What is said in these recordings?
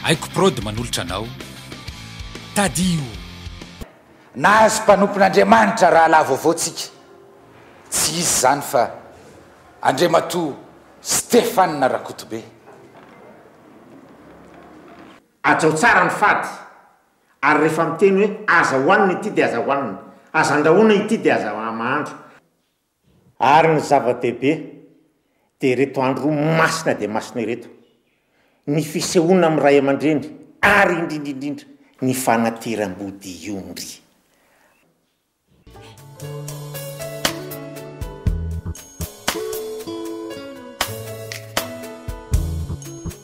Aiko prod manolotra anao. Tadiou. Nahazo mpanompon'Andriamanitra rahalahy vaovao tsika, tsy iza izany fa Andriamatoa Stephane Rakotobe. Hajao tsara ny fady, ary rehefa miteny hoe aza hohanina ity dia aza hohanina, aza andrahoina ity dia aza mahandro. Ary ny zava-dehibe dia ireto andro roa masina dia masina ireto, ny fisehoana amin'ny ray aman-dreny ary indrindra indrindra ny fanatiram-body iombry.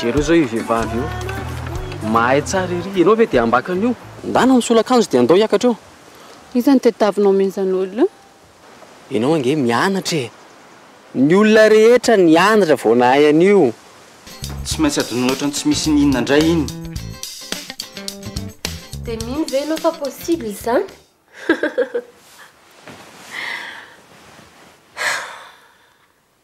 Jereo izao io vehivavy io, mahay tsara ery, ianao ve dia ambakany io? Ndana ny solakanjo dia ndao hiakatra eo. Iza no tadiavinao mihitsy an'olona io? Ianao ange mianatra e! Ny olona rehetra nianatra vao nahay an'io. Tsy maintsy adonina ohatran'ny tsy misy ny inona indray iny. Dia mino ve ianao fa possible izany?